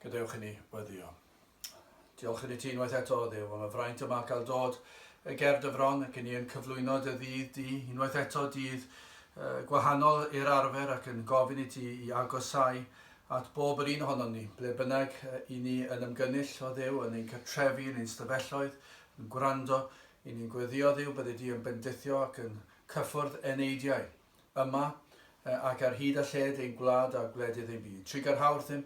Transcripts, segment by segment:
Gadewch i ni weddio. Diolch yn y ti unwaith eto, ddew, am y fraint yma cael dod y gerdd y fron ac yn i'n cyflwyno dy ddydd di, unwaith eto dydd uh, gwahanol i'r arfer ac yn gofyn i ti i agosau at bob yr un ohonom ni, ble bynnag i ni yn ymgynnull o ddew, yn ein cartrefi, yn ein stafelloedd, yn gwrando Yn ni'n gweddïo Dduw byddi di yn bendithio ac yn cyffwrdd eneidiau, yma ac ar hyd a lled ein gwlad a gwledydd ein byd. Trigar hawdd ddim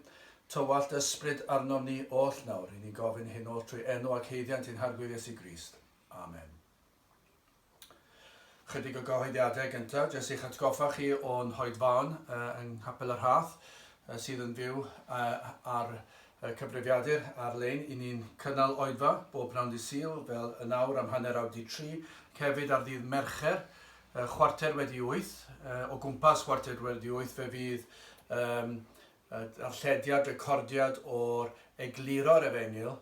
tywallt ysbryd arnom ni oll nawr. Yn ni'n gofyn hyn oll trwy enw ac haeddiant ein Harglwyr Iesu Grist. Amen. Chydig o gyhoeddiadau gyntaf, jyst i'ch atgoffa chi o'n hoedfaon yng Nghapel yr Hath sydd yn fyw ar y cyfrifiadur ar-lein. I ni'n cynnal oedfa bob pnawn dydd Sul fel yn awr am hanner awr di tri, ac hefyd ar ddydd Mercher chwarter wedi wyth, o gwmpas chwarter wedi wyth fe fydd y darllediad, recordiad o'r egluro'r efengyl,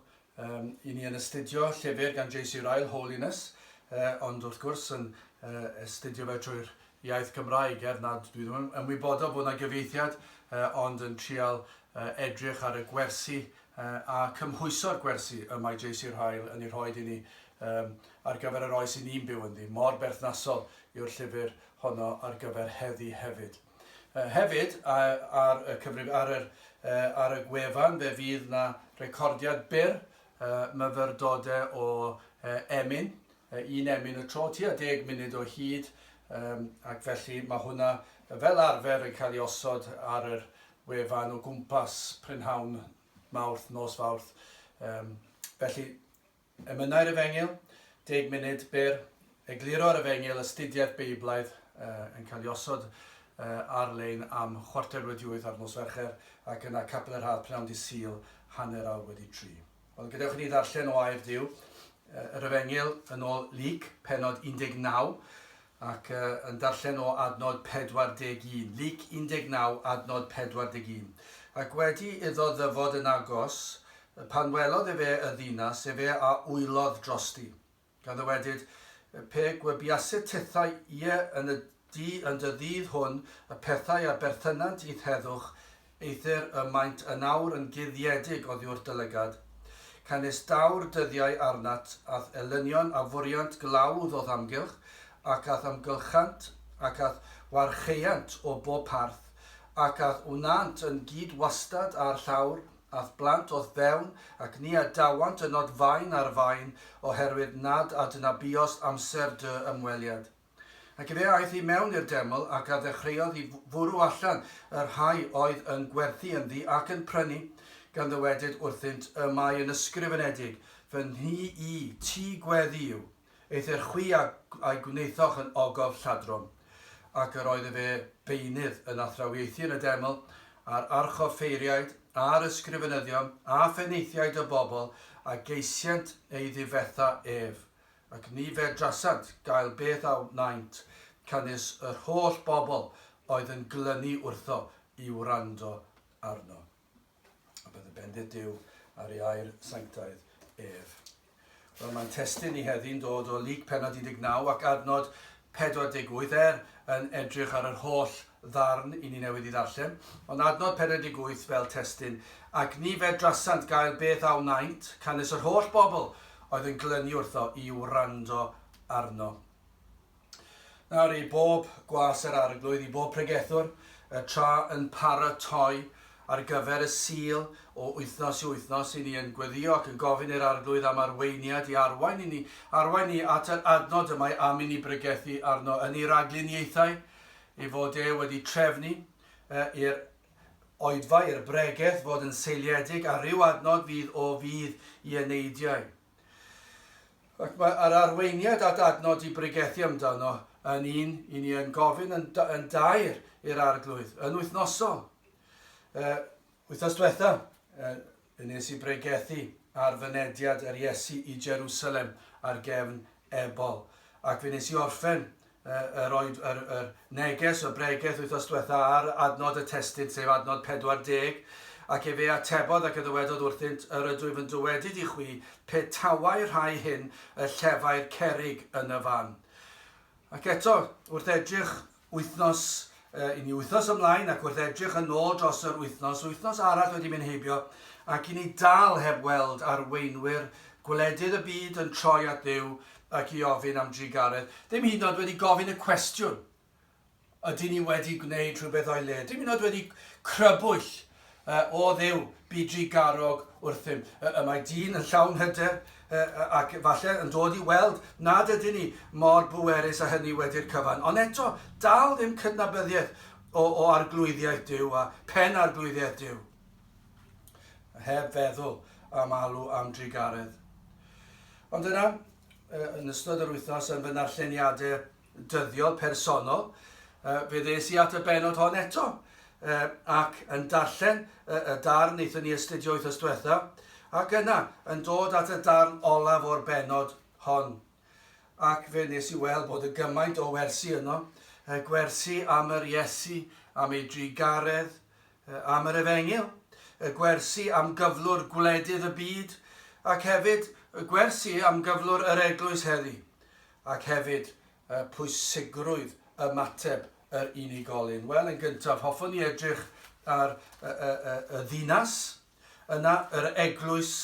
um, i ni yn astudio llyfr gan J.C. Ryle, Holiness, uh, ond wrth gwrs yn uh, astudio fe trwy'r iaith Gymraeg, er nad dwi ddim yn wybodol bod yna gyfeithiad, uh, ond yn trial uh, edrych ar y gwersi uh, a cymhwyso'r gwersi y mae J.C. Ryle yn ei rhoi i ni um, ar gyfer yr oes i ni'n byw ynddi, mor berthnasol yw'r llyfr honno ar gyfer heddi hefyd. Hefyd, ar y cyfrif, ar yr, ar y gwefan, fe fydd 'na recordiad byr myfyrdode o emyn, un emyn y tro, tua deg munud o hyd, ac felly mae hwnna fel arfer yn cael ei osod ar yr wefan o gwmpas prynhawn Mawrth, nos Fawrth. Felly, Emynau'r Efengyl, deg munud byr, Egluro'r Efengyl, astudiaeth Beiblaidd yn cael ei osod ar-lein am chwarter wedi wyth ar nos Fercher ac yna Capel yr Haf pnawn dydd Sul hanner awr wedi tri. Wel, gadewch i ni ddarllen o air Duw, yr Efengyl yn ôl Luc, pennod 19, ac yn darllen o adnod 41, Luc 19, adnod 41, Ac wedi iddo ddyfod yn agos, pan welodd efe y ddinas, efe a wylodd drosti. Gan ddywedyd, Pe gwybiaset tithau ie yn y du yn dy ddydd hwn y pethau a berthynant i'th heddwch, Eithr y maent yn awr yn guddiedig oddiwrth dy lygad. Canys daw'r dyddiau arnat, a'th elynion a fwriant glawdd o'th amgylch, ac a'th ymgylchant, ac a'th warchaeant o bob parth, ac a'th wnânt yn gyd wastad â'r llawr, a'th blant o'th fewn, ac ni a dawant ynod faen ar faen, oherwydd nad adnabuost amser dy ymweliad. Ac efe aeth i mewn i'r deml, ac a ddechreuodd i fwrw allan y rhai oedd yn gwerthu ynddi ac yn prynu, gan ddywedyd wrthynt, Y mae yn ysgrifenedig, Fy nhŷ i, tŷ gweddi yw, eithr chwi a a'i gwnaethoch yn ogof lladron. Ac yr oedd efe beunydd yn athrawiaethu yn y deml, a'r archoffeiriaid, a'r ysgrifenyddion, a phenaethiaid y bobl, a geisient ei ddifetha ef, ac ni fedrasant gael beth a wnaent, canys yr holl bobl oedd yn glynu wrtho i wrando arno. A bydd y bendith Duw ar ei air sanctaidd ef. Wel, mae'n testyn ni heddi'n dod o Lyc penod 19 ac adnod 48 er yn edrych ar yr holl ddarn i ni newydd i ddarllen, ond adnod 48 fel testun, Ac ni fedrasant gael beth a wnaent, canys yr holl bobl oedd yn glynu wrtho i wrando arno. Nawr i bob gwas yr Arglwydd, i bob pregethwr, y tra yn paratoi ar gyfer y Sul o wythnos i wythnos, i ni yn gweddio ac yn gofyn i'r Arglwydd am arweiniad i arwain i ni, arwain ni at yr adnod y mae am i ni bregethu arno yn ei ragluniaethau, ei fod e wedi trefnu i'r oedfa, i'r bregeth, fod yn seiliedig ar ryw adnod fydd o fudd i eneidiau. Ac mae yr arweiniad at adnod i bregethu amdano yn un i ni yn gofyn yn, yn dair i'r arglwydd, yn wythnosol. Uh, wythnos diwetha, uh, Fe nes i bregethu ar fynediad yr Iesu i Jerusalem ar gefn Ebal. Ac fe nes i orffen yr, oed, yr, yr neges, y bregeth wythnos diwetha ar adnod y testyn, sef adnod 40, ac efe atebodd ac y ddywedodd wrthynt, yr ydwyf yn dywedyd i chwi, pe tawai rhai hyn y llefai'r cerig yn y fan. Ac eto, wrth edrych wythnos i ni wythnos ymlaen ac wrth edrych yn ôl dros yr wythnos, wythnos arall wedi mynd heibio ac i ni dal heb weld arweinwyr gwledydd y byd yn troi at Dduw ac i ofyn am drugaredd, ddim hyd yn oed wedi gofyn y cwestiwn, ydyn ni wedi gwneud rhywbeth o'i le? Dim hyd yn oed wedi crybwyll A, O Dduw, bu drugarog wrthym. A, Y mae dyn yn llawn hyder, a, ac efallai yn dod i weld nad ydyn ni mor bwerus â hynny wedi'r cyfan, ond eto, dal ddim cydnabyddiaeth o, o Arglwyddiaeth Duw, a phen Arglwyddiaeth Duw. A heb feddwl am alw am drugaredd. Ond yna, yn ystod yr wythnos, yn fy narlleniadau dyddiol, personol, uh, fe ddes i at y benod hon eto, uh, ac yn darllen uh, y darn eithon ni astudio wythnos diwetha, ac yna yn dod at y darn olaf o'r benod hon. Ac fe nes i weld bod y gymaint o wersi yno, uh, gwersi am yr Iesu, am ei drugaredd, uh, am yr efengil, y gwersi am gyflwr gwledydd y byd, ac hefyd y gwersi am gyflwr yr eglwys heddi. ac hefyd y pwysigrwydd ymateb yr unigolyn. Wel, yn gyntaf, hoffwn ni edrych ar y, y, y, y ddinas, yna yr eglwys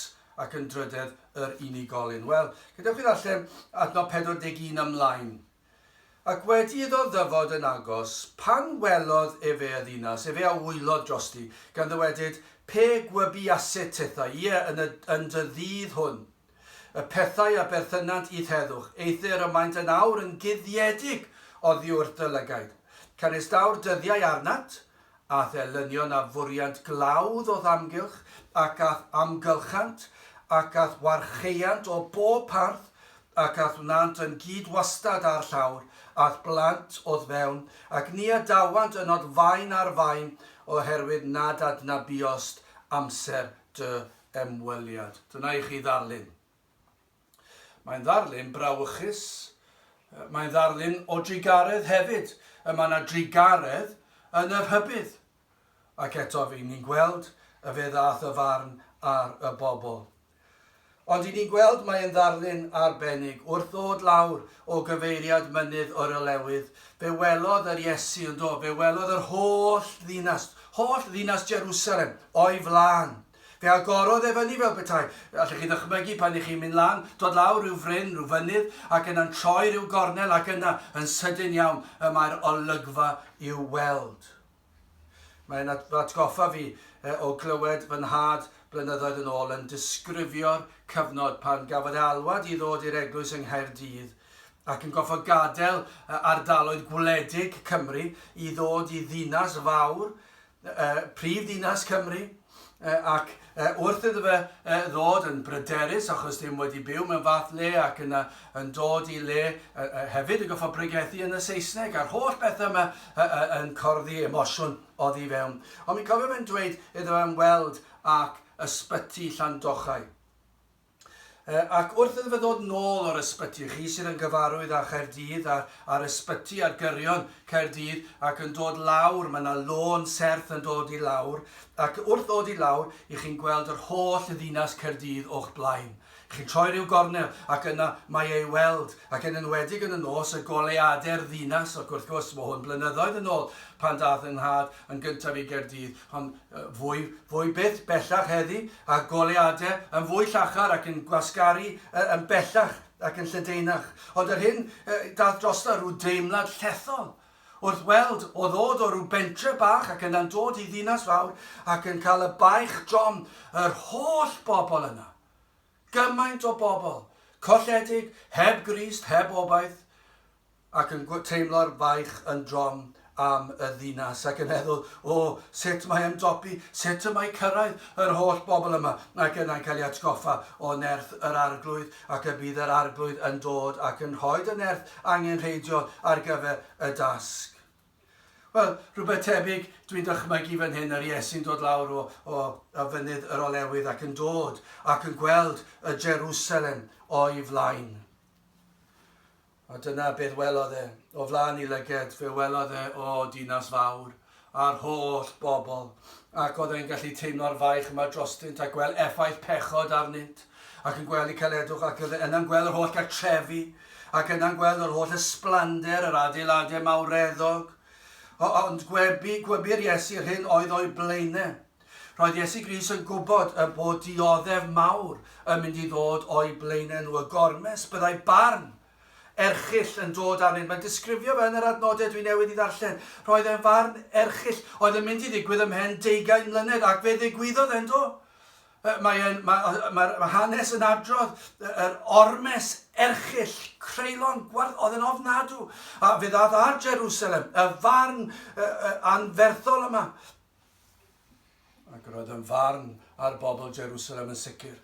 ac yn drydedd yr unigolyn. Wel, gyda chi ddarllen adnod 41 ymlaen. Ac wedi iddo ddyfod yn agos, pan welodd efe y ddinas, efe a wylodd drosti, gan ddywedyd, Pe gwybiaset tethau, ie, yn, y, yn dy ddydd hwn, Y pethau a berthynant i'th heddwch, eithr y maent yn awr yn guddiedig oddiwrth dy lygaid. Canistaw'r dyddiau arnat, a'th elynion a fwriant glawdd o'th amgylch, ac a'th amgylchant, ac a'th warcheuant o bob parth, ac a'th wnant yn gyd-wastad â'r llawr, a'th blant o'th fewn, ac ni adawant ynot fain ar fain, oherwydd nad adnabiost amser dy ymweliad. Dyna i chi ddarlun. Mae'n ddarlun brawychus, mae'n ddarlun o drugaredd hefyd. Y mae yna drugaredd yn y rhybydd. Ac eto fi ni'n gweld y fe ddath y farn ar y bobl. Ond i ni'n gweld mae'n ddarlun arbennig wrth ddod lawr o gyfeiriad mynydd yr olewydd. Fe welodd yr Iesu yn do, fe welodd yr holl ddinas, holl ddinas Jerusalem o'i flaen. Fe agorodd e fyny fel petai, allwch chi ddychmygu pan y'ch chi'n mynd lan, dod lawr rhyw fryn, rhyw fynydd, ac yna'n troi rhyw gornel ac yna, yn sydyn iawn, y mae'r olygfa i'w weld. Mae'n atgoffa fi o glywed fy nhad blynyddoedd yn ôl yn disgrifio'r cyfnod pan gafodd e alwad i ddod i'r eglwys yng Nghaerdydd ac yn gorfod gadael ardaloedd gwledig Cymru i ddod i ddinas fawr prif ddinas Cymru, ac wrth iddo fe ddod yn bryderus achos ddim wedi byw mewn fath le ac yna yn dod i le hefyd yn goffa bregethu yn y Saesneg a'r holl bethau yma yn corddi emosiwn oddi fewn. Ond mi'n cofio fe'n dweud iddo fe ymweld ac ysbyty Llandochau. Ac wrth iddo fe ddod nôl o'r ysbyty, chi sydd yn gyfarwydd â Chaerdydd a, a'r ysbyty ar gyrion Caerdydd ac yn dod lawr, mae yna lôn serth yn dod i lawr, ac wrth ddod i lawr, i chi'n gweld yr holl ddinas Caerdydd o'ch blaen. Chi'n troi ryw gornel ac yna mae ei weld, ac yn enwedig yn y nos, y goleuadau'r ddinas, ac wrth gwrs, mae hwn blynyddoedd yn ôl pan daeth 'y nhad yn gyntaf i Gaerdydd, Ond fwy, fwy byth bellach heddi, a goleadau yn fwy llachar ac yn gwasgaru yn bellach ac yn lledaenach. Ond yr hyn daeth drosto rhyw deimlad llethol wrth weld o ddod o rhyw bentre bach ac yna'n dod i ddinas fawr ac yn cael y baich drom yr holl bobl yna. Gymaint o bobl, colledig, heb grist, heb obaith. ac yn teimlo'r baich yn drom am y ddinas, ac yn meddwl, O, sut mae ymdopi, sut y mae cyrraedd yr holl bobl yma? Ac yna'n cael ei atgoffa o nerth yr Arglwydd, ac y bydd yr Arglwydd yn dod ac yn rhoi y nerth angenrheidiol ar gyfer y dasg. Wel, rhywbeth tebyg dwi'n dychmygu fan hyn, yr Iesu'n dod lawr o, o, o fynydd yr olewydd ac yn dod ac yn gweld y Jerusalem o'i flaen. A dyna beth welodd e. O flaen 'i lyged, fe welodd e, o, dinas fawr, a'r holl bobl, ac oedd e'n gallu teimlo'r faich yma drostynt a gweld effaith pechod arnynt, ac yn gweld y caledwch, ac oedd e yna'n gweld yr holl gartrefi, ac yna'n gweld yr holl ysblander yr adeiladau mawreddog. O, ond gwebu, gwebu'r Iesu yr hyn oedd o'i blaenau. Roedd Iesu Grist yn gwybod y bod dioddef mawr yn mynd i ddod o'u blaenau nhw, y gormes, byddai barn erchyll yn dod arnynt. Mae'n disgrifio fe yn yr adnodau dwi newydd i ddarllen. Roedd e'n farn erchyll oedd yn mynd i ddigwydd ymhen deugain mlynedd, ac fe ddigwyddodd e'n do. Mae'n ma, ma, ma hanes yn adrodd yr ormes erchyll, creulon, gwarth, oedd yn ofnadw, a fe ddad ar Jerusalem, y farn uh, uh, anferthol yma, Ac roedd yn farn ar bobl Jerusalem yn sicr,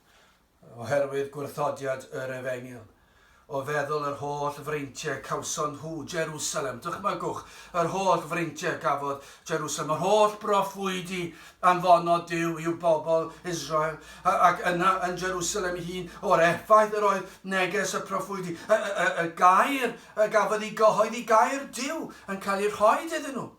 oherwydd gwrthodiad yr efengyl. O feddwl yr holl freintiau cawson nhw Jerusalem, dychmygwch, yr holl freintiau gafodd Jerusalem, yr holl broffwydi anfonod Dyw i'w bobl Israel, ac yna yn Jerusalem ei hun, o'r effaith yr oedd neges y proffwydi, y, y, y, y gair y gafodd ei gyhoeddi, gair Dyw yn cael ei rhoi iddyn nhw.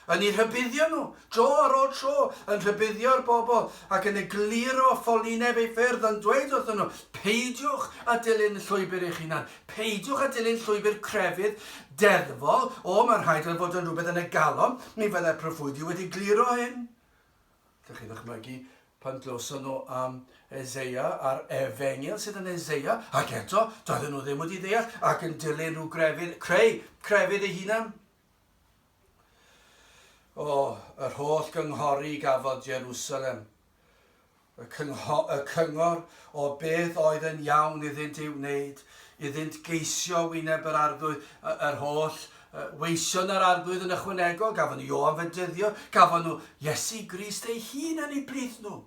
Yn eu rhybuddio nhw, tro ar ôl tro, yn rhybuddio'r bobl ac yn egluro ffolineb ei ffyrdd, yn dweud wrthyn nhw, Peidiwch â dilyn llwybr eich hunan. Peidiwch â dilyn llwybr crefydd deddfol, O, mae'n rhaid iddo fod yn rhywbeth yn y galon, mi fyddai'r proffwydi wedi egluro hyn. Ydych chi'n dychmygu pan glywson nhw am Eseia a'r efengyl sydd yn Eseia, ac eto, doedden nhw ddim wedi ddeall ac yn dilyn rhyw grefydd, creu crefydd eu hunan. O, yr holl gynghori gafodd Jerusalem, y, cyngho, y cyngor o beth oedd yn iawn iddynt ei wneud, iddynt geisio wyneb yr arglwydd, yr holl weision yr arglwydd yn ychwanegol, gafon nhw Ioan fe dyddio, gafon nhw Iesu Grist ei hun yn ei blith nhw.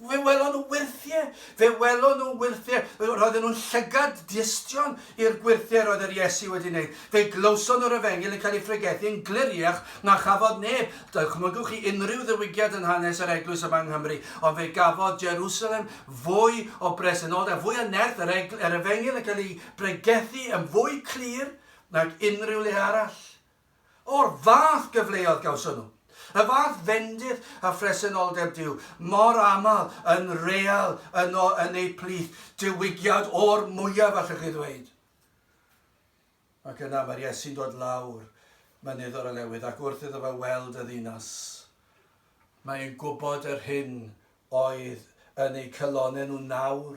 Fe welon nhw wyrthiau, fe welon nhw wyrthiau. Roedden nhw'n llygad diystion i'r gwyrthiau roedd yr Iesu wedi wneud. Fe glywson nhw'r efengyl yn cael ei phregethu yn gliriach na chafodd neb. Dychmygwch chi unrhyw ddiwygiad yn hanes yr eglwys yma yng Nghymru, ond fe gafodd Jerusalem fwy o bresenoldeb, fwy o nerth, yr, yr efengyl yn cael ei bregethu yn fwy clir nag unrhyw le arall. O'r fath gyfleodd gawson nhw. Y fath fendith a phresenoldeb Duw, mor aml yn real yno yn eu plith, diwygiad o'r mwyaf allwch chi ddweud. Ac yna mae'r Iesu'n dod lawr Mynydd yr Olewydd ac wrth iddo fe weld y ddinas, mae e'n gwybod yr hyn oedd yn eu calonnau nhw nawr.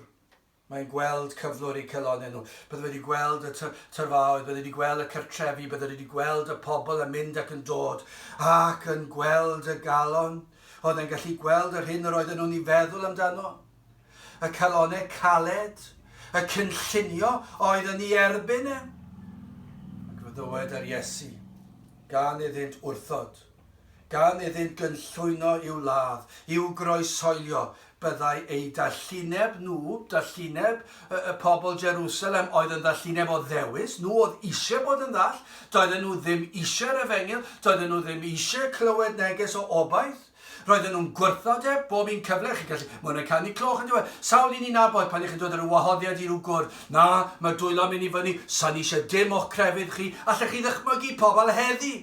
Mae'n gweld cyflwr eu calonnau nhw. Bydde wedi gweld y tyrfaoedd, bydde wedi gweld y cartrefi, bydde wedi gweld y pobl yn mynd ac yn dod, ac yn gweld y galon. Oedd e'n gallu gweld yr hyn yr oedden nhw'n ei feddwl amdano? Y calonau caled, y cynllunio oedd yn ei erbyn e. Ac fe ddywed yr Iesu, gan iddynt wrthod. gan iddynt gynllwyno i'w ladd, i'w groesoelio, byddai eu dallineb nhw, dallineb y, y pobl Jerusalem oedd yn ddallineb o ddewis, nhw oedd eisiau bod yn ddall, doedden nhw ddim eisiau'r efengyl, doedden nhw ddim eisiau clywed neges o obaith, roedden nhw'n gwrthod e bob un cyfle, chi'n gallu, mae hwnna'n canu cloch yn diwedd, sawl un ni'n nabod pan ych chi'n dod ar y wahoddiad i rhyw gwrdd, na, mae dwylo mynd i fyny, sa'n eisiau dim o'ch crefydd chi, allech chi ddychmygu pobl heddi,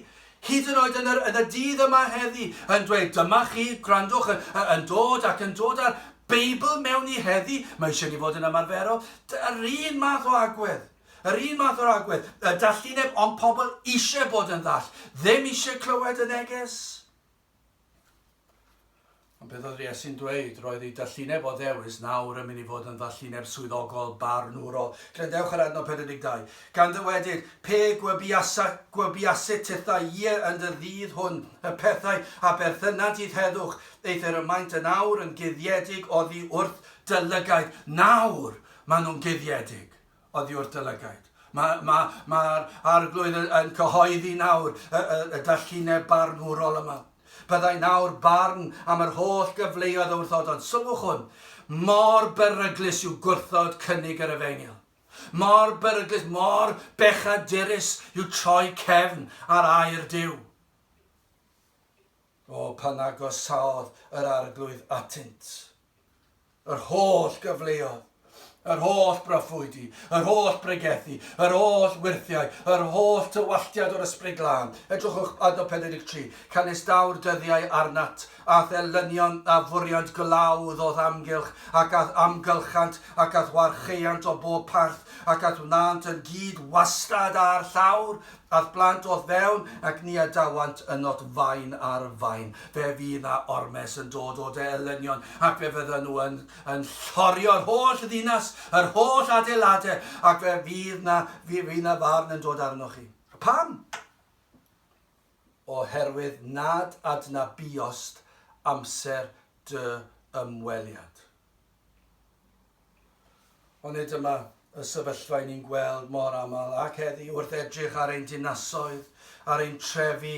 Hyd yn oed yn yr, yn y dydd yma heddi, yn dweud, dyma chi, gwrandwch, yn, yn dod ac yn dod â'r Beibl mewn i heddi, mae eisiau ni fod yn ymarferol. Yr un math o agwedd. Yr un math o'r agwedd. Y dallineb, ond pobl eisiau bod yn ddall. Ddim eisiau clywed y neges. Ond beth oedd Iesu'n dweud? Roedd ei dallineb o ddewis nawr yn mynd i fod yn ddallineb swyddogol barnwrol. Gredewch ar adnod 42. Gan ddywedyd, Pe gwebiasa, gwebiasit titha ie yn dy ddydd hwn y pethau a berthynant i'th heddwch, eithr y maent yn awr yn guddiedig oddi wrth dy lygaid. Nawr maen nhw'n guddiedig. oddio'r Dylygaid. Mae'r ma, ma Arglwydd yn cyhoeddi nawr y, y, y dallineb barnwrol yma. Byddai nawr barn am yr holl gyfleoedd a wrthod, ond sylwch hwn, mor beryglus yw gwrthod cynnig yr efengyl. Mor beryglus, mor bechadurus yw troi cefn ar air Dyw. O, pan agosaodd yr arglwydd atynt, yr holl gyfleodd, yr holl broffwydi, yr holl bregethu, yr holl wyrthiau, yr holl tywalltiad o'r Ysbryd Glân. Edrychwch adnod 43. Canistawr dyddiau arnat, a'th elynion a fwriant glawdd o'th amgylch, ac a'th amgylchant, ac a'th warchaeant o bob parth, ac a'th wnânt yn gyd wastad â'r llawr, Ath blant o'th fewn ac ni adawant ynot fain ar fain. Fe fydd 'na ormes yn dod o de elynion ac fe fyddan nhw yn yn llorio'r holl ddinas, yr holl adeilade, ac fe fydd 'na fe fydd 'na farn yn dod arnoch chi. Pam? Oherwydd nad adnabuost amser dy ymweliad. Onid dyma y sefyllfa i ni'n gweld mor aml ac heddi wrth edrych ar ein dinasoedd, ar ein trefi,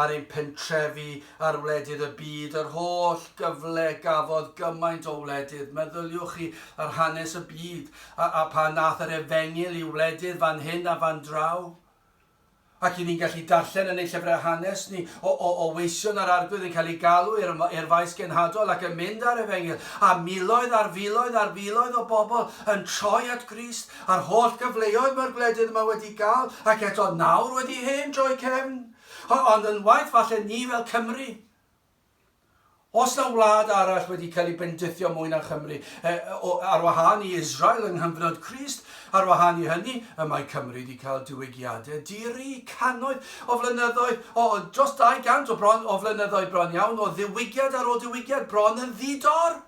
ar ein pentrefi, ar wledydd y byd, yr holl gyfle gafodd gymaint o wledydd, meddyliwch chi ar hanes y byd a, a pan nath yr efengyl i wledydd fan hyn a fan draw? Ac i ni'n gallu darllen yn ein llyfrau hanes ni o o o weision yr Arglwydd yn cael ei galw i'r i'r Faes Genhadol ac yn mynd â'r Efengyl, a miloedd ar filoedd ar filoedd o bobl yn troi at Grist, a'r holl gyfleoedd mae'r gwledydd yma wedi gael, ac eto nawr wedi hen droi cefn. O- ond yn waeth falle ni fel Cymry. Os na wlad arall wedi cael ei bendithio mwy na Chymru, e, o, ar wahân i Israel yng nghyfnod Crist, ar wahân i hynny, y mae Cymru wedi cael diwygiadau di-ri cannoedd o flynyddoedd, o, dros 200 o, bron, o flynyddoedd bron iawn, o ddiwygiad ar ôl diwygiad, bron yn ddi-dor.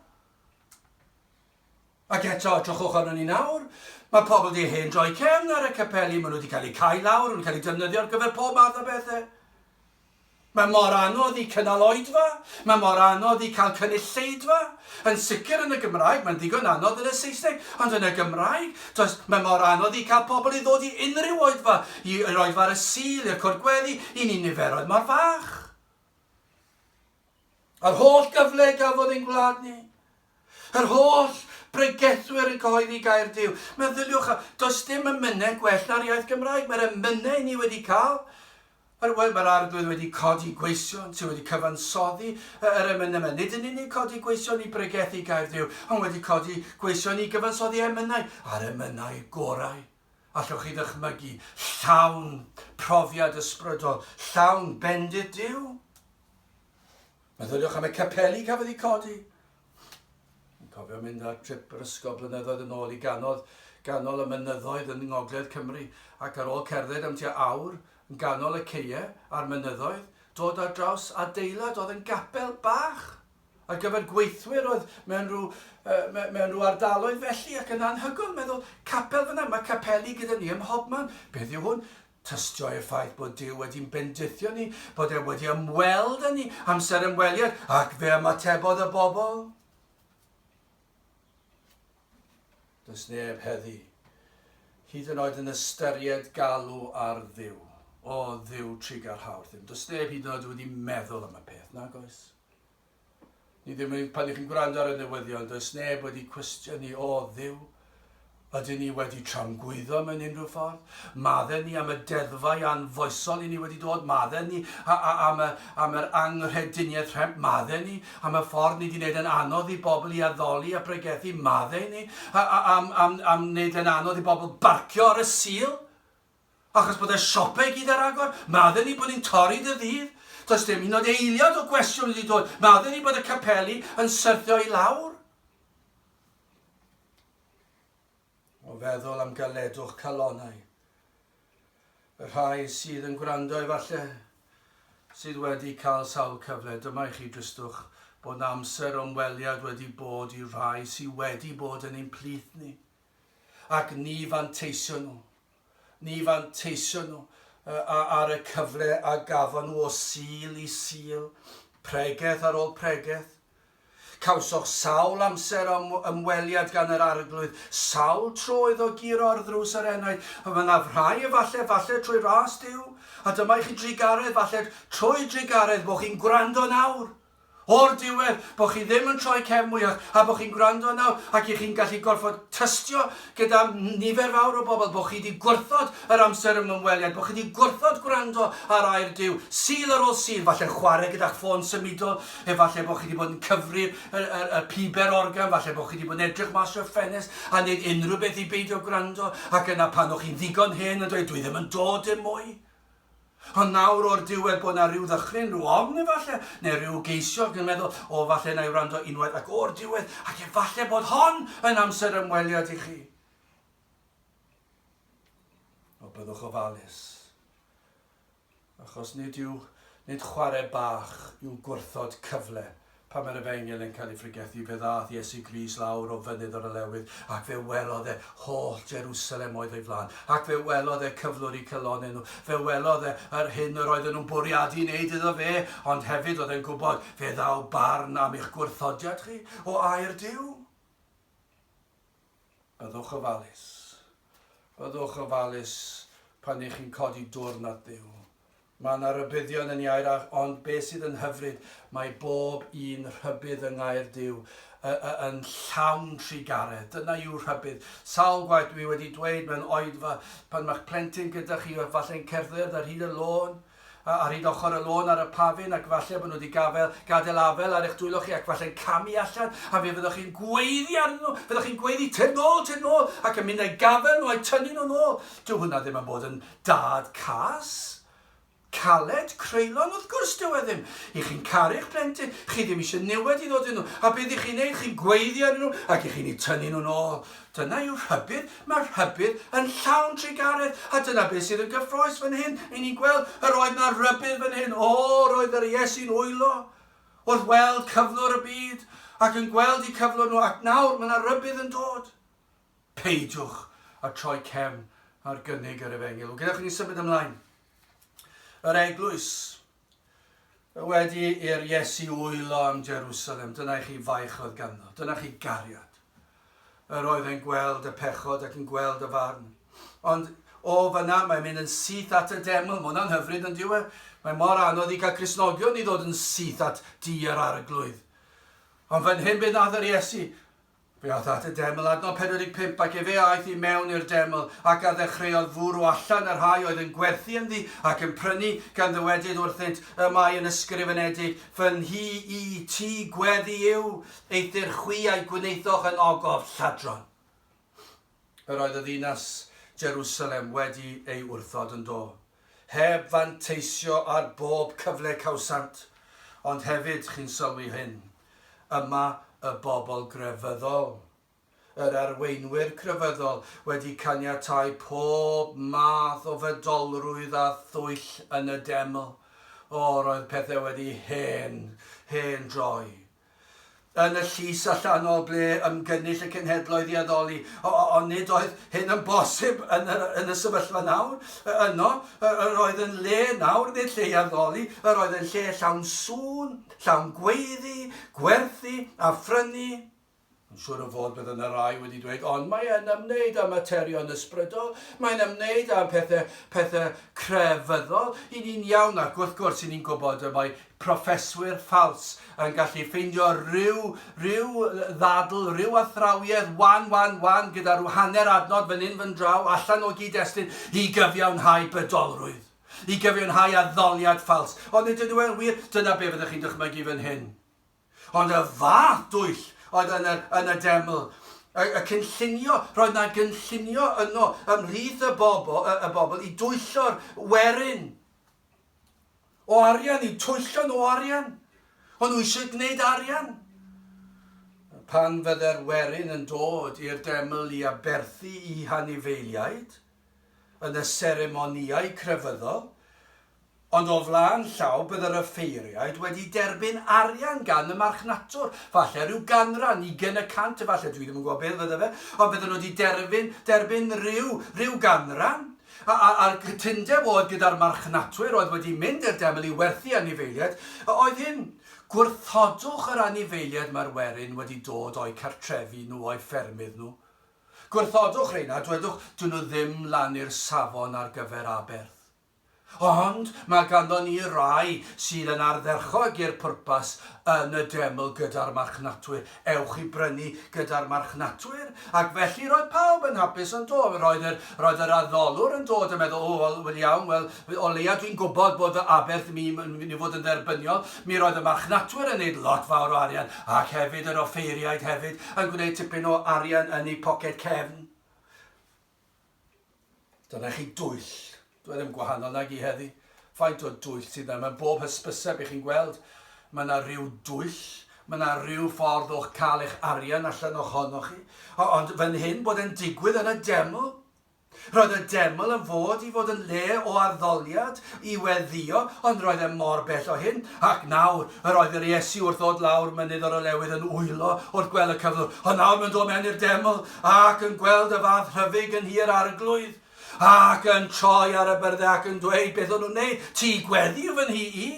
Ac eto, edrychwch arnon ni nawr. Mae pobl wedi hen droi cefn ar y capeli, maen nhw wedi cael eu cau lawr, yn cael eu defnyddio ar gyfer pob math o bethau. Mae mor anodd i cynnal oedfa, mae mor anodd i cael cynulleidfa. Yn sicr yn y Gymraeg, mae'n ddigon anodd yn y Saesneg, ond yn y Gymraeg, does, mae mor anodd i cael pobl i ddod i unrhyw oedfa, i'r oedfa ar y Sul, i'r cwrt gweddi, i ni niferoedd mor fach. Yr holl gyfle gafodd ein gwlad ni. Yr holl bregethwyr yn cyhoeddi gair Duw. Meddyliwch, does dim emynau gwell na'r iaith Gymraeg. Mae'r emynau ni wedi cael, yr, wel, mae'r Arglwydd wedi codi gweision sydd wedi cyfansoddi yr emynau yma. Nid yn unig codi gweision i bregethu gair Duw, ond wedi codi gweision i gyfansoddi emynau, a'r emynau gorau. Allwch chi ddychmygu llawn profiad ysbrydol, llawn bendith Duw? Meddyliwch am y capeli cafodd eu codi. Yn cofio mynd ar trip yr ysgol blynyddoedd yn ôl i ganodd ganol y mynyddoedd yn ngogledd Cymru ac ar ôl cerdded am tua awr yn ganol y ceie a'r mynyddoedd, dod ar draws adeilad oedd yn gapel bach. Ar gyfer gweithwyr oedd mewn rhyw, yy, mewn rhyw ardaloedd felly, ac yn anhygoel meddwl, capel fyna, mae capeli gyda ni ym mhobman. Beth yw hwn? Tystio i'r ffaith bod Duw wedi'n bendithio ni, bod e wedi ymweld â ni, amser ymweliad, ac fe ymatebodd y bobl. Does neb heddi, hyd yn oed yn ystyried galw ar ddiw, o ddiw trigarhawr ddim. Does neb hyd yn oed wedi meddwl am y peth, nag oes? Ni ddim yn, pan ych chi'n gwrando ar y newyddion, does neb wedi cwestiynu, o dduw, ydyn ni wedi tramgwyddo mewn unrhyw ffordd? Madden ni am y deddfau anfoesol i ni wedi dod, madden ni a, a, am, y, am yr anghrediniaeth rhemp, madden ni am y ffordd ni wedi gwneud yn anodd i bobl i addoli a pregethu, madden ni a, a, am, am, am wneud yn anodd i bobl barcio ar y sil? Achos bod y siopau i gyd ar agor, medden ni bod ni'n torri dydd Ddydd. Does dim hyd yn oed eiliad o gwestiwn wedi dod, medden ni bod y capeli yn syrthio i lawr. O feddwl am galedwch calonnau. Y rhai sydd yn gwrando efallai, sydd wedi cael sawl cyfle, dyma i chi dristwch bod na amser ymweliad wedi bod i'r rhai sydd wedi bod yn ein plith ni, ac ni fanteisio nhw. Ni fanteision nhw ar y cyfle a gafon nhw o Sul i Sul, pregeth ar ôl pregeth. Cawsoch sawl amser am ymweliad gan yr Arglwydd, sawl tro iddo guro ar ddrws yr enaid, a mynnaf rhai efalle, falle trwy ras Duw, a dyma i chi drugaredd, falle trwy drugaredd, bo chi'n gwrando nawr! O'r diwedd, bod chi ddim yn troi cefn mwyach a bod chi'n gwrando nawr ac i chi'n gallu gorfod tystio gyda nifer fawr o bobl, bod chi wedi gwrthod yr amser ym ymweliad, bod chi wedi gwrthod gwrando ar air Duw, Sul ar ôl Sul, falle'n chwarae gyda'ch ffôn symudol, efallai bod chi wedi bod yn cyfri y, y, y piber organ, falle bod chi wedi bod yn edrych mas o'r ffenest a wneud unrhyw beth i beidio gwrando, ac yna pan o'ch chi'n ddigon hen yn dweud, dwi ddim yn dod dim mwy. Ond nawr o'r diwedd bod 'na ryw ddychryn, ryw ofn efalle, neu ryw geisiog yn meddwl, 'O, falle 'na i wrando unwaith ac o'r diwedd, ac efalle bod hon yn amser ymweliad i chi. O, byddwch ofalus. Achos nid yw, nid chwarae bach yw gwrthod cyfle Pan mae'r efengyl yn cael ei phregethu, fe ddaeth Iesu Grist lawr o fynydd yr olewydd, ac fe welodd e holl Jerusalem oedd o'i flaen, ac fe welodd e cyflwr i calonnau nhw, fe welodd e yr hyn yr oedden nhw'n bwriadu wneud iddo fe, ond hefyd oedd e'n gwybod, fe ddaw barn am eich gwrthodiad chi, o air Duw. Byddwch ofalus. Byddwch ofalus pan y'ch chi'n codi dwrn at Dduw. Mae 'na rybuddion yn iau'r arch, ond be' sydd yn hyfryd, mae bob un rhybudd yng ngair Duw y- y- yn llawn trugaredd. Dyna yw rhybudd. Sawl gwaith dwi wedi dweud mewn oedfa, pan ma'ch plentyn gyda chi, falle'n cerdded ar hyd y lôn, A rhyd ochr y lôn ar y pafin, ac falle bod nhw wedi gafel, gadael afel ar eich dwylo chi, ac falle'n camu allan, a fe fyddwch chi'n gweiddi arnyn nhw, fyddwch chi'n gweiddi, Tyn nôl, tyn nôl, ac yn mynd a'i gafel nhw a'i tynnu nhw'n ôl. Dyw hwnna ddim yn bod yn dad cas. Caled, creulon, wrth gwrs dyw e ddim. I chi'n caru'ch plentyn, chi ddim eisiau niwed i ddod iddyn nhw, a beth i chi'n neud, chi'n gweiddi arnyn nhw, ac i chi'n eu tynnu nhw'n ôl. Dyna yw rhybudd, mae'r rhybudd yn llawn trugaredd, a dyna beth sydd yn gyffrous fan hyn, i ni'n gweld yr oedd na rybudd fan hyn, o, roedd yr Iesu'n wylo wrth weld cyflwr y byd, ac yn gweld i cyflwr nhw, ac nawr mae na rybudd yn dod. Peidiwch a troi cefn ar gynnig yr efengyl. Gadewch i ni symud ymlaen. Yr eglwys, Wedi i'r Iesu wylo am Jerusalem, dyna i chi faich oedd ganddo, dyna chi gariad. Yr oedd e'n gweld y pechod ac yn gweld y farn. Ond o fyna mae'n mynd yn syth at y deml, mae hwnna'n hyfryd yn diwe. Mae mor anodd i cael Cresnogion i ddod yn syth at di yr arglwydd. Ond fan hyn bydd nath yr Iesu, Fe aeth at y deml adnodd 45 ac efe aeth i mewn i'r deml, ac a ddechreuodd fwrw allan y rhai oedd yn gwerthu ynddi ac yn prynu, gan ddywedyd wrthynt, Y mae yn ysgrifenedig, Fy nhŷ i, tŷ gweddi yw, eithr chwi a'i gwnaethoch yn ogof lladron. Yr oedd y ddinas Jerusalem wedi ei wrthod yn do, heb fanteisio ar bob cyfle cawsant, ond hefyd, chi'n sylwi hyn, yma y bobl grefyddol, yr arweinwyr crefyddol wedi caniatáu pob math o fedolrwydd a thwyll yn y deml, o, roedd pethau wedi hen, hen droi, yn y llys allanol ble ymgynnull y cenhedloedd i addoli, ond nid oedd hyn yn bosib yn y, yn y sefyllfa nawr. Yno, yr oedd yn le nawr, nid lle i addoli, yr oedd yn lle llawn sŵn, llawn gweiddi, gwerthu a phrynu. Yn siŵr o fod bydd yna rai wedi dweud, ond mae e'n ymwneud â materion ysbrydol, mae'n ymwneud â phethau, pethau crefyddol. I ni'n iawn ac wrth gwrs i ni'n gwybod y mae proffeswyr ffals yn gallu ffeindio rhyw, rhyw ddadl, rhyw athrawiedd wan, wan, wan gyda rhyw hanner adnod fan hyn fan draw allan o gyd-destun i gyfiawnhau bydolrwydd, i gyfiawnhau addoliad ffals. Ond ydyn nhw yn wir? Dyna be fyddwch chi'n dychmygu fan hyn. Ond y fath dwyll oedd yn y, yn y deml. Y, y cynllunio, roedd na gynllunio yno ymhlith y bobl, y, y bobl i dwyllo'r werin o arian, i'w twyllo nhw arian. O'n nhw eisiau gwneud arian. Pan fydde'r werin yn dod i'r deml i aberthu i hanifeiliaid, yn y seremonïau crefyddol, Ond o flaen llaw bydd yr offeiriaid wedi derbyn arian gan y marchnatwr, falle rhyw ganran, ugain y cant efalle, dwi ddim yn gwybod beth fydde fe, ond bydden nhw wedi derfyn, derbyn rhyw, rhyw ganran, a, a, a'r cytundeb oedd gyda'r marchnatwyr oedd wedi mynd i'r deml i werthu anifeiliaid, oedd hyn, gwrthodwch yr anifeiliaid mae'r werin wedi dod o'u cartrefi nhw, o'u ffermydd nhw. Gwrthodwch rheina, dwedwch, dyn nhw ddim lan i'r safon ar gyfer aberth. Ond mae ganddo ni rai sydd yn ardderchog i'r pwrpas yn y deml gyda'r marchnatwyr. Ewch i brynu gyda'r marchnatwyr. Ac felly roedd pawb yn hapus, yn do? Roedd yr, roedd yr addolwr yn dod yn meddwl, O, wel, wel iawn, wel, o leia dwi'n gwybod bod fy aberth mi, yn mynd i fod yn dderbyniol. Mi roedd y marchnatwyr yn neud lot fawr o arian, ac hefyd yr offeiriaid hefyd, yn gwneud tipyn o arian yn eu poced cefn. Dyna chi dwyll. Dw ddim gwahanol nag i heddi. Faint o dwyll sydd yna? Mae bob hysbyseb i chi'n gweld. Mae yna rhyw dwyll. Mae yna rhyw ffordd o'ch cael eich arian allan ohonoch chi. O, ond fan hyn bod e'n digwydd yn y deml. Roedd y deml yn fod i fod yn le o arddoliad, i weddio, ond roedd e mor bell o hyn, Ac nawr, yr oedd yr Iesu wrth ddod lawr mynydd yr olewydd yn wylo wrth gwel y cyflwr, ond nawr mae'n dod mewn i'r deml, ac yn gweld y fath rhyfyg yn hir arglwydd, ac yn troi ar y byrddau ac yn dweud, beth o'n nhw'n neud? Ti gweddi yw fy nhi i?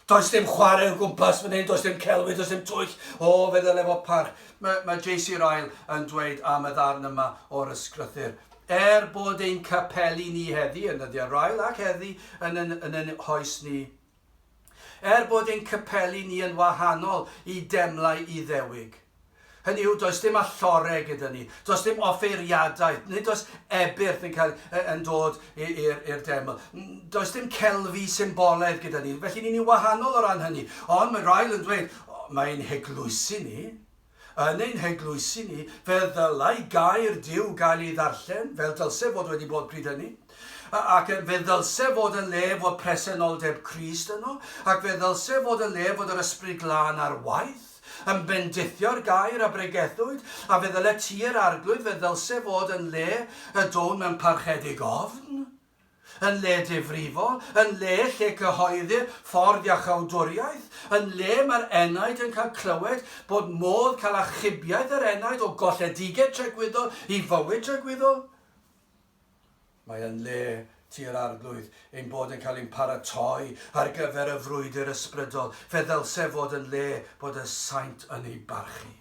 Does dim chwarae o gwmpas fan hyn, does dim celwydd, does dim twyll. O, fe ddyle fod parch. Mae, mae JC Ryle yn dweud am y ddarn yma o'r ysgrythyr. Er bod ein capeli ni heddi, yn y derail, ac heddi yn yn yn yn hoes ni, er bod ein capeli ni yn wahanol i demlau Iddewig, hynny yw, does dim alloreg gyda ni, does dim offeiriadaeth, nid oes ebyrth yn cael yn dod i'r deml, does dim celfi symbolaidd gyda ni, felly ni'n ni wahanol o ran hynny. Ond mae rhai yn dweud, mae'n heglwysi ni, Yn ein heglwysi ni, fe ddylai gair Duw gael ei ddarllen, fel dylse fod wedi bod pryd hynny, ac fe ddylse fod yn le fod presenoldeb Crist yno, ac fe ddylse fod yn le fod yr Ysbryd Glân ar waith, yn bendithio'r gair a bregethwyd, a fe ddyle Tŷ yr Arglwydd, fe ddylse fod yn le y down mewn parchedig ofn. Yn le difrifol, yn le lle cyhoeddir ffordd iachawdwriaeth, yn le mae'r enaid yn cael clywed bod modd cael achubiaeth yr enaid o golledigedd tregwyddol i fywyd tregwyddol, mae yn le tua'r Arglwydd ein bod yn cael ein paratoi ar gyfer y frwydr ysbrydol, fe ddylse fod yn le bod y saint yn ei barchu,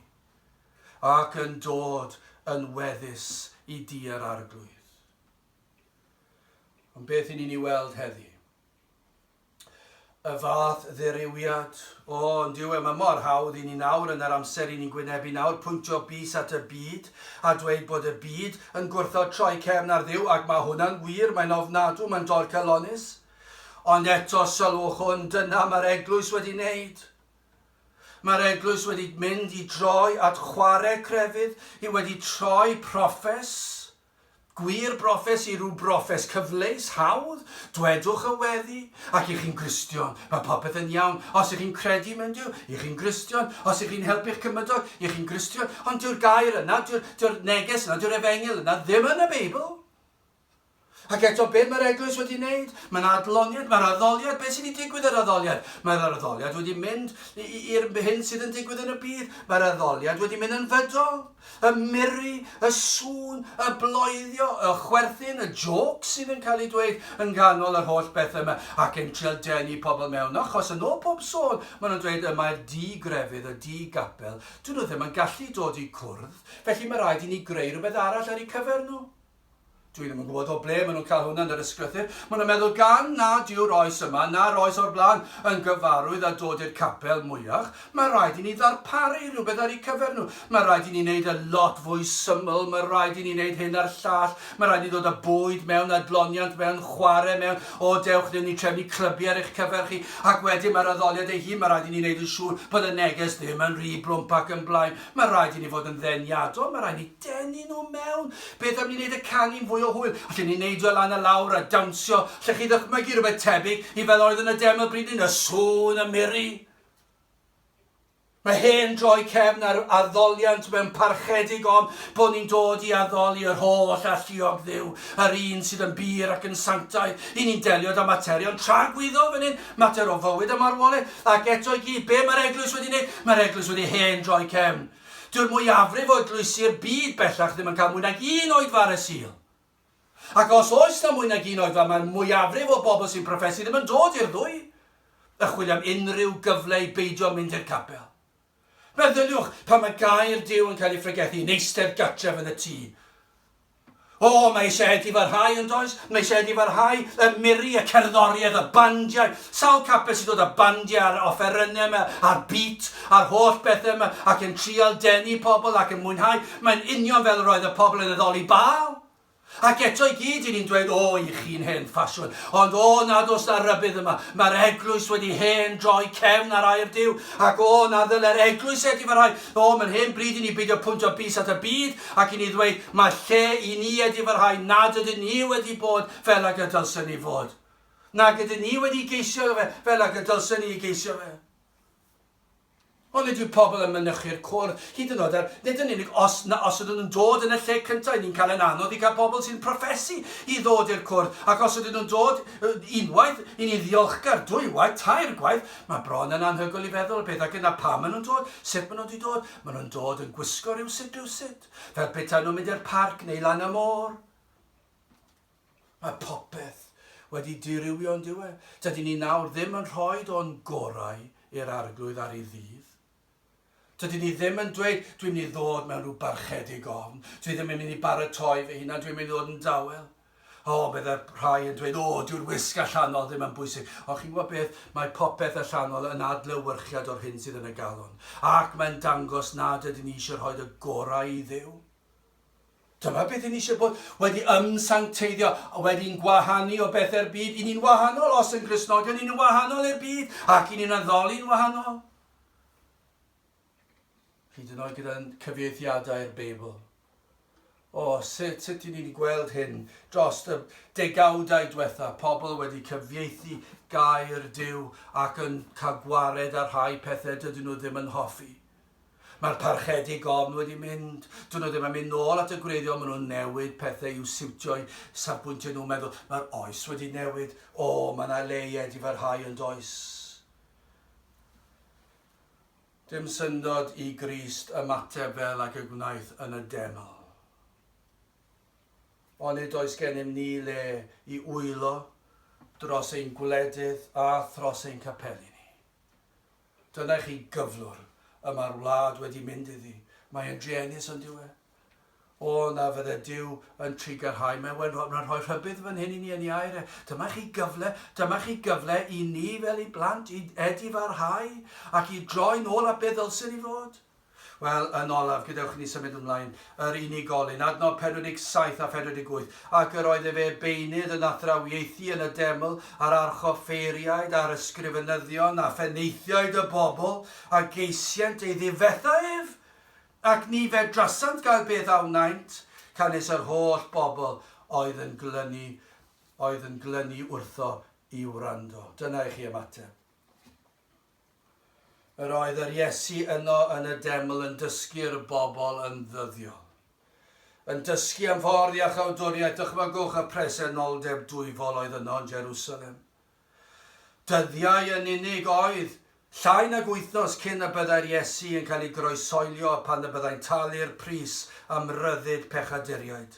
ac yn dod yn weddus i dŷ'r Arglwydd. Ond beth i ni'n ei weld heddi? Y fath dderywiad, o, yn dyw e, mae mor hawdd i ni nawr yn yr amser i ni'n gwynebu nawr, pwyntio bys at y byd a dweud bod y byd yn gwrthod troi cefn ar dduw, ac mae hwnna'n wir, mae'n ofnadw, mae'n dorcalonnus. Ond eto, sylwch hwn, dyna mae'r eglwys wedi wneud. Mae'r eglwys wedi mynd i droi at chwarae crefydd, i wedi troi proffes, Gwir brofes i rw brofes cyfleus, hawdd, dwedwch y weddi, ac i chi'n Gristion, mae popeth yn iawn, os i chi'n credu mewn Duw, i chi'n Gristion, os i chi'n helpu'ch cymydog, i chi'n Gristion, ond dyw'r gair yna, dyw'r, dyw'r neges yna, dyw'r efengyl yna ddim yn y Beibl. Ac eto, be mae'r eglwys wedi wneud? Mae'n adloniad, mae'r addoliad, beth sydd wedi digwydd yr addoliad? Mae'r addoliad wedi mynd i'r hyn sydd yn digwydd yn y byd, mae'r addoliad wedi mynd yn fydol. Y murri, y sŵn, y bloeddio, y chwerthin, y jôcs sydd yn cael eu dweud yn nghanol yr holl bethau yma ac yn trial denu pobl mewn achos yn ôl pob sôn maen nhw'n dweud y mae'r du grefydd, y du gapel, dyn nhw ddim yn gallu dod i cwrdd felly mae rhaid i ni greu rhywbeth arall ar eu cyfer nhw. Dwi ddim yn gwybod o ble maen nhw'n cael hwnna yn yr ysgrythur. Maen nhw'n meddwl gan nad yw'r oes yma na'r oes o'r blaen yn gyfarwydd â dod i'r capel mwyach, mae rhaid i ni ddarparu rhywbeth ar eu cyfer nhw. Mae rhaid i ni wneud y lot fwy syml, mae rhaid i ni wneud hyn a'r llall, mae rhaid i ni ddod â bwyd mewn, adloniant mewn, chwarae mewn, o dewch ddim ni trefnu clybiau ar eich cyfer chi, ac wedyn mae'r addoliad ei hun, mae rhaid i ni wneud yn siŵr bod y neges ddim yn rhy blwmp ac yn blaen. Mae rhaid i ni fod yn ddeniadol, mae rhaid i ni Denu nhw mewn! Beth am ni wneud y canu'n fwy o hwyl? Allen ni wneud o lan a lawr a dawnsio. Allech chi ddychmygu rhywbeth tebyg i fel oedd yn y demo bryd hyn? Y sŵn, y miri. Mae hen droi cefn ar addoliant mewn parchedig ond bod ni'n dod i addoli yr holl alluog dduw, yr un sydd yn bur ac yn sanctaidd. I ni'n delio da materion tragwyddol fan hyn, mater o fywyd a marwolaeth, ac eto i gyd, be mae'r eglwys wedi wneud? Mae'r eglwys wedi hen droi cefn. Dyw'r mwyafrif o eglwysi'r byd bellach ddim yn cael mwy nag un oedfa ar y Sul. Ac os oes na mwy nag un oedfa mae'r mwyafrif o bobl sy'n proffesu ddim yn dod i'r ddwy a chwilio am unrhyw gyfle i beidio mynd i'r capel. Meddyliwch pan mae gair Duw yn cael ei phregethu yn eistedd gartref yn y tŷ. O, mae eisiau Ed i farhau, yn does? Mae eisiau Ed i farhau, y miri, y cerddoriaeth, y bandiau. Sawl capel sy'n dod â bandiau a'r offerynnau yma, a'r beat, a'r holl bethau yma, ac yn trial denu pobl ac yn mwynhau. Mae'n union fel yr oedd y pobl yn addoli Baal. Ac eto i gyd i ni'n dweud, o, i chi'n hen ffasiwn. Ond o, nad oes na rybydd yma. Mae'r eglwys wedi hen droi cefn ar air Duw. Ac o, na ddylai'r eglwys Ed i farhau. Pam yr hen bryd i ni beidio pwyntio bys at y byd ac i ni ddweud mae lle i ni ydi fy rhai nad ydyn ni wedi bod fel ag y dylsen ni fod, nag ydyn ni wedi geisio fe fel ag y dylsen ni ei geisio fe? Onid yw pobl yn mynychu'r cwr, hyd yn oed er, nid yn unig os na os ydyn nhw'n dod yn y lle cyntaf, ni'n cael ein anodd i gael pobl sy'n proffesu i ddod i'r cwr, ac os ydyn nhw'n dod unwaith, i ni ddiolchgar, dwywaith, tair gwaith, Mae bron yn anhygoel i feddwl y pethau gyntaf, pam maen nhw'n dod, sut maen nhw wedi dod, maen nhw'n dod yn gwisgo rywsut rywsut, fel petaen nhw'n mynd i'r parc neu lan y môr. Mae popeth wedi dirywio yn diwedd. Dydyn ni nawr ddim yn rhoi o'n gorau i'r Arglwydd ar ei ddydd. Dydyn ni ddim yn dweud, dwi'n mynd i ddod mewn rhyw barchedig ofn, dwi ddim yn mynd i baratoi fy hunan, dwi'n mynd i ddod yn dawel. O, bydde rhai yn dweud, o, dyw'r wisg allanol ddim yn bwysig. Ond chi'n gwybod beth, mae popeth allanol yn adlewyrchiad o'r hyn sydd yn y galon. Ac mae'n dangos nad ydyn ni eisiau rhoi y gorau i ddew. Dyma beth ni eisiau bod wedi ymsancteiddio, wedi'n gwahanu o bethau'r byd. I ni'n wahanol os yn Gristnogion, i ni'n wahanol i'r byd, ac i ni'n addoli'n wahanol. Hyd yn oed gyda'n cyfieithiadau'r Beibl. O, sut, sut i ni'n gweld hyn dros y degawdau diwetha, pobl wedi cyfieithu gair Dyw ac yn cael gwared ar rhai pethau dydyn nhw ddim yn hoffi. Mae'r parchedig ofn wedi mynd. Dyn nhw ddim yn mynd nôl at y gwreiddiol, maen nhw'n newid pethau i'w siwtio'i safbwyntiau nhw'n meddwl. Mae'r oes wedi newid. O, mae yna leied i farhau yn does. Dim syndod i Grist ymateb fel ag y gwnaeth yn y deml. Onid oes gennym ni le i wylo dros ein gwledydd a thros ein capeli ni? Dyna i chi gyflwr y mae'r wlad wedi mynd iddi. Mae e'n druenus, on'd yw e? O na, fydde Duw yn trigarhau. Mae'n well, mae'n rhoi rhybudd fan hyn i ni yn ei air e. Dyma chi gyfle, dyma chi gyfle i ni fel ei blant i edifarhau ac i droi'n ôl at be ddylswn ni fod. Wel, yn olaf, gadewch i ni symud ymlaen, yr unigolyn, adnodd 47 a 48, ac yr oedd efe beunydd yn athrawiaethu yn y deml, a'r archoffeiriaid, a'r ysgrifenyddion, a phenaethiaid y bobl, a geisient ei ddifetha ef, Ac ni fedrasant gael beth a wnaent, canys yr holl bobl oedd yn glynu, oedd yn glynu wrtho i wrando. Dyna i chi ymateb. Yr oedd yr Iesu yno yn y deml yn dysgu'r bobl yn ddyddiol. Yn dysgu am ffordd iachawdwriaeth, dychmygwch y presenoldeb dwyfol oedd yno yn Jerusalem. Dyddiau yn unig oedd, llai nag wythnos cyn y byddai'r Iesu yn cael ei groesoelio pan y byddai'n talu'r pris am ryddid pechaduriaid,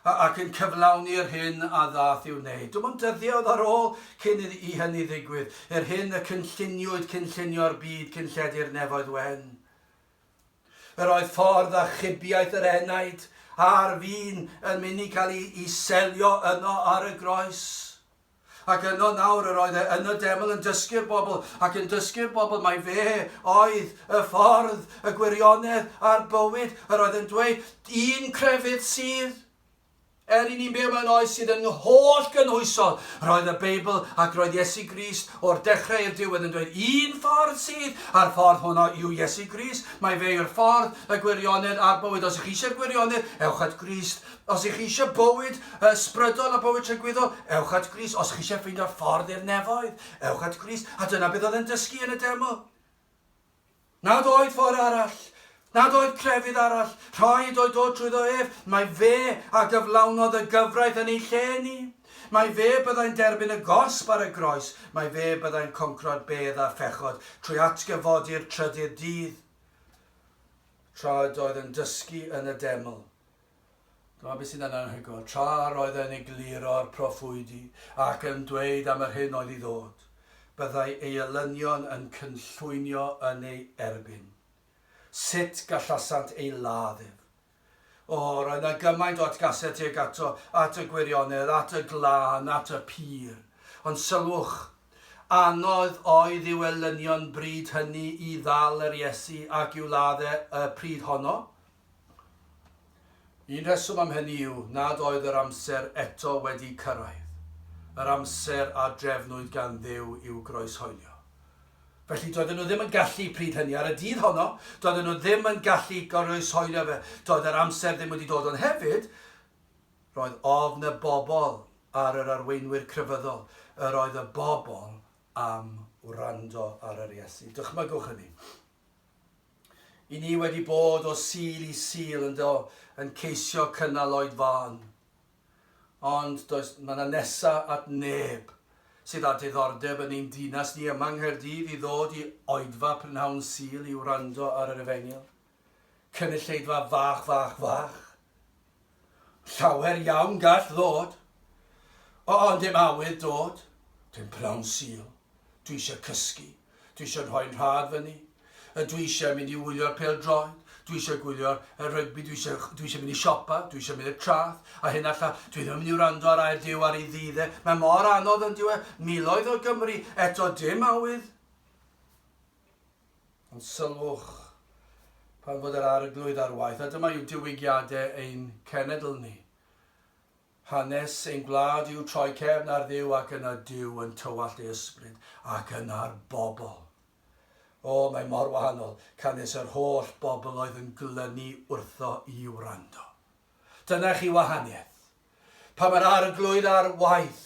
a, ac yn cyflawni'r hyn a ddaeth i'w wneud. Dim ond dyddiau oedd ar ôl cyn iddi, i hynny ddigwydd, i'r hyn y cynlluniwyd cynllunio'r byd cyn lledu'r nefoedd wen. Yr oedd ffordd a chybiaeth yr enaid a'r fin yn mynd i cael ei, ei selio yno ar y groes. Ac yno nawr yr oedd e yn y deml yn dysgu'r bobl, ac yn dysgu'r bobl mai fe oedd y ffordd, y gwirionedd, a'r bywyd. Yr oedd yn dweud, un crefydd sydd, er i ni'n byw mewn oes sydd yn holl gynhwysol, roedd y Beibl ac roedd Iesu Grist o'r dechrau i'r diwedd yn dweud, un ffordd sydd, a'r ffordd hwnna yw Iesu Grist, mae fe yw'r ffordd, y gwirionedd a'r bywyd. Os ych chi eisiau'r gwirionedd, ewch at Grist. Os ych chi eisiau bywyd ysbrydol a bywyd tragwyddol, ewch at Grist. Os chi eisiau ffeindio'r ffordd i'r nefoedd, ewch at Grist. A dyna beth oedd e'n dysgu yn y demo. Nad oedd ffordd arall, nad oedd crefydd arall, rhaid oedd dod trwyddo ef, mae fe a gyflawnodd y gyfraith yn ei lle ni. Mae fe byddai'n derbyn y gosb ar y groes, mae fe byddai'n concro'r bedd a phechod trwy atgyfodi'r trydydd dydd. Tra oedd yn dysgu yn y deml, Dyma beth sydd yn anhygoel, tra yr oedd e'n egluro'r proffwydi ac yn dweud am yr hyn oedd i ddod, byddai ei elynion yn cynllwynio yn ei erbyn. Sut gallasant ei ladd ef? O, roedd yna gymaint o atgasedd tuag ato, at y gwirionedd, at y glân, at y pur. Ond sylwch, anodd oedd i'w elynion bryd hynny i ddal yr Iesu ac i'w ladd e y pryd honno. Un rheswm am hynny yw nad oedd yr amser eto wedi cyrraedd, yr amser a drefnwyd gan Dduw i'w groeshoelio. Felly doedden nhw ddim yn gallu pryd hynny, ar y dydd honno, doedden nhw ddim yn gallu groeshoelio fe, doedd yr amser ddim wedi dod ond hefyd, roedd ofn y bobl ar yr arweinwyr crefyddol, yr oedd y bobl am wrando ar yr Iesu. Dychmygwch hynny. I ni wedi bod o Sul i Sul yn do, yn ceisio cynnal oedfaon. Ond does, mae na nesa at neb sydd â diddordeb yn ein dinas ni yma yng Nghaerdydd i ddod i oedfa prynhawn Sul i wrando ar yr efengyl. Cynulleidfa fach, fach, fach! Llawer iawn gall ddod. O, ond dim awydd dod. Dim pnawn Sul. Dwi eisiau cysgu. Dwi eisiau rhoi yn rhad fyny. A dwi eisiau mynd i wylio'r pêl-droed. Dwi eisiau gwylio'r y rygbi. Dwi eisiau, dwi eisiau mynd i siopa. Dwi eisiau mynd i'r trath. A hyn alla. Dwi ddim yn mynd i wrando ar air Duw ar ei ddydd e. Mae mor anodd yn dyw e. Miloedd o Gymry. Eto dim awydd. Ond sylwch, pan fod yr Arglwydd ar waith, a dyma yw diwygiadau ein cenedl ni, hanes ein gwlad i'w troi cefn ar Dduw ac yna Duw yn tywallt ei ysbryd ac yna'r bobl. O, mae mor wahanol canys yr holl bobl oedd yn glynu wrtho i wrando. Dyna chi wahaniaeth. Pan mae'r Arglwydd ar waith,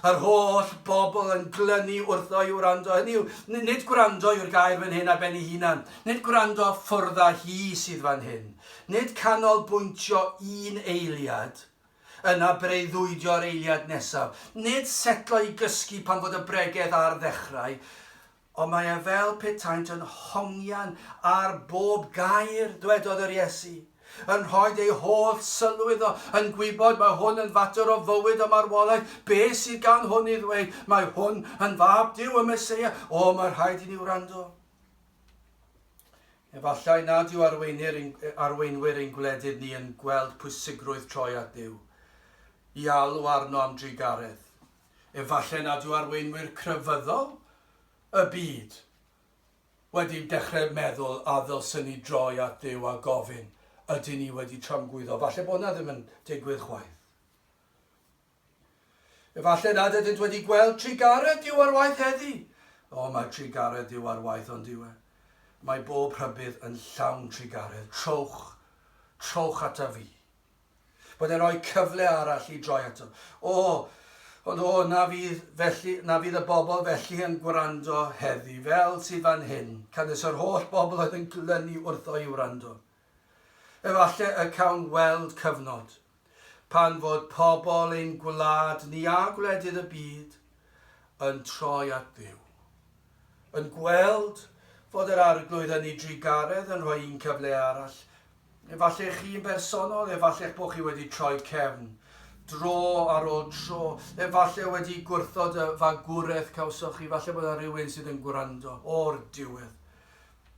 a'r holl bobl yn glynu wrtho i wrando, hynny yw, nid gwrando yw'r gair fan hyn ar ben ei hunan, nid gwrando ffwrdd â hi sydd fan hyn, nid canolbwyntio un eiliad, yna breuddwydio'r eiliad nesaf, nid setlo i gysgu pan fod y bregeth ar ddechrau, Ond mae e fel petaent yn hongian ar bob gair, dwedodd yr Iesu, yn rhoid eu holl sylw iddo, yn gwybod mae hwn yn fater o fywyd a marwolaeth, be sydd gan hwn i ddweud? Mae hwn yn fab Duw, y Meseia, o mae rhaid i ni wrando. Efallai nad yw arweinir ein, arweinwyr ein gwledydd ni yn gweld pwysigrwydd troi at Duw, i alw arno am drugaredd. Efallai nad yw arweinwyr crefyddol y byd wedi dechrau meddwl a ddylsen ni droi at Dduw a gofyn, ydyn ni wedi tramgwyddo? Falle bod na ddim yn digwydd chwaith. Efallai nad ydynt wedi gweld trugaredd Duw ar waith heddi. O, mae trugaredd Duw ar waith ond yw e. Mae bob rhybudd yn llawn trugaredd. Trowch, trowch ata fi. bod e'n rhoi cyfle arall i droi ato. O, ond o, na fydd, felly, na fydd y bobl felly yn gwrando heddi, fel sydd fan hyn, canys yr holl bobl oedd yn glynu wrtho i wrando. Efallai y cawn weld cyfnod, pan fod pobl ein gwlad ni a gwledydd y byd yn troi at Dduw. Yn gweld fod yr Arglwydd yn ei drugaredd yn rhoi un cyfle arall. Efallai chi'n bersonol, efallai'ch bod chi wedi troi cefn, dro ar ôl tro, efallai wedi gwrthod y fagwraeth cawsoch chi, efallai bod yna rywun sydd yn gwrando, o'r diwedd.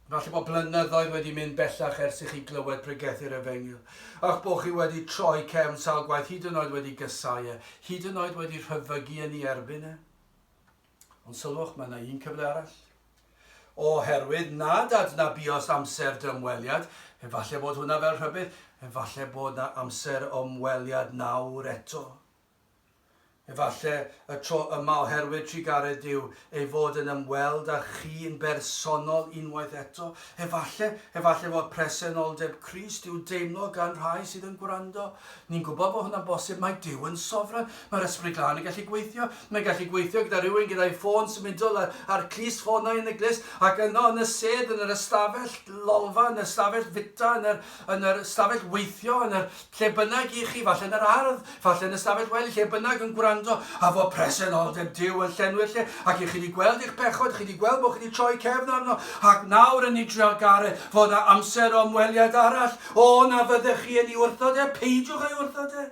Efallai bod blynyddoedd wedi mynd bellach ers i chi glywed pregethu'r Efengyl, a'ch bod chi wedi troi cefn sawl gwaith, hyd yn oed wedi gysau e, hyd yn oed wedi rhyfygu yn ei erbyn e. Ond sylwch, mae yna un cyfle arall. Oherwydd nad adnabios amser dymweliad, efallai bod hwnna fel rhybudd, efallai bod yna amser ymweliad nawr eto. Efallai y tro yma oherwydd trugaredd Duw ei fod yn ymweld â chi yn bersonol unwaith eto. Efallai, efallai fod presenoldeb Crist i'w deimlo gan rhai sydd yn gwrando. Ni'n gwybod bod hwnna'n bosib, mae Duw yn sofran, mae'r Ysbryd Glân yn gallu gweithio, mae'n gallu gweithio gyda rhywun gyda'i ffôn symudol a'r, a'r clust ffonau yn y glust, ac yno yn y sedd, yn yr ystafell lolfa, yn yr ystafell fwyta, yn yr, yn yr ystafell weithio, yn yr, lle bynnag i chi, falle yn yr ardd, falle yn y stafell wely, lle bynnag yn gwrando, a fod presenoldeb Duw yn llenwi'r lle, ac i chi wedi gweld eich pechod, chi wedi gweld bod chi wedi troi cefn arno, ac nawr yn nitrio'r garreg, fod â amser o ymweliad arall, Co na fyddech chi yn ei wrthod e, peidiwch â'i wrthod e.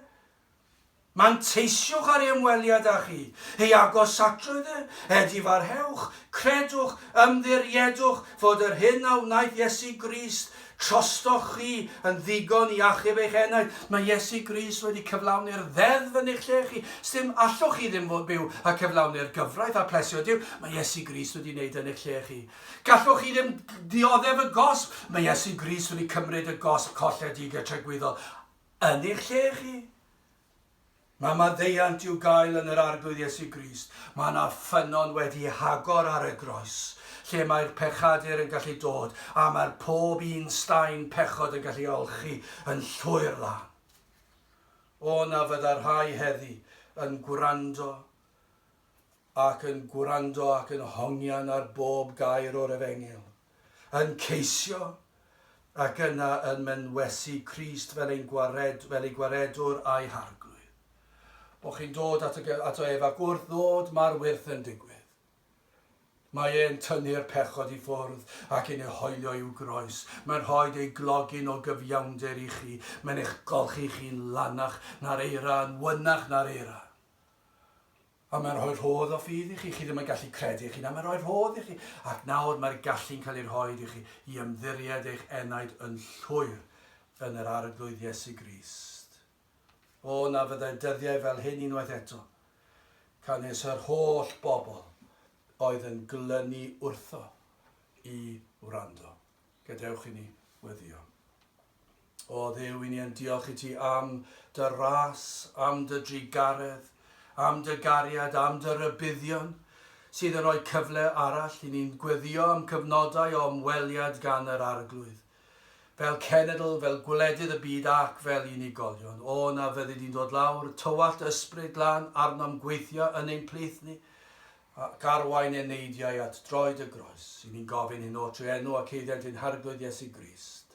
Manteisiwch ar ei ymweliad â chi, ei agosatrwydd e, edifarhewch, credwch, ymddiriedwch fod yr hyn a wnaeth Iesu Grist trostoch chi yn ddigon i achub eich enaid. Mae Iesu Grist wedi cyflawni'r ddeddf yn eich lle chi. Sdim allwch chi ddim fod byw a cyflawni'r gyfraith a plesio Duw. Mae Iesu Grist wedi wneud yn eich lle chi. Gallwch chi ddim dioddef y gosb. Mae Iesu Grist wedi cymryd y gosb colledig a tregwyddol yn eich lle chi. Mae maddeuant i'w gael yn yr Arglwydd Iesu Grist. Mae yna ffynnon wedi hagor ar y groes, lle mae'r pechadur yn gallu dod, a mae'r pob un staen pechod yn gallu olchi yn llwyr lan. O na fydda rhai heddi yn gwrando ac yn gwrando ac yn hongian ar bob gair o'r Efengyl, yn ceisio, ac yna yn mynwesu Crist fel ein gwared, fel ei Gwaredwr a'i Harglwydd. O, chi'n dod at y, ato ef, ac wrth ddod mae'r wyrth yn digwydd. Mae e'n tynnu'r pechod i ffwrdd ac yn ei hoelio i'w groes. Mae'n rhoi ei glogyn o gyfiawnder i chi. Mae'n eich golchi chi'n lanach na'r eira, yn wynach na'r eira. A mae'n rhoi rhodd o ffydd i chi. Chi ddim yn gallu credu eich hunan, mae'n rhoi rhodd i chi. Ac nawr mae'r gallu'n cael ei rhoi i chi i ymddiried eich enaid yn llwyr yn yr Arglwydd Iesu Grist. O, na fyddai'r dyddiau fel hyn unwaith eto, can nes yr holl bobl oedd yn glynu wrtho i wrando. Gadewch i ni weddio. O Dduw, i ni yn diolch i ti am dy ras, am dy drugaredd, am dy gariad, am dy rybuddion, sydd yn rhoi cyfle arall i ni'n gweddio am cyfnodau o ymweliad gan yr Arglwydd, fel cenedl, fel gwledydd y byd ac fel unigolion. O na fyddi di'n dod lawr, tywallt ysbryd lan arnom gweithio yn ein plith ni, ac arwain eneidiau at droed y groes. I ni'n gofyn hyn o trwy enw ac eiddent ein Harglwydd Iesu Grist.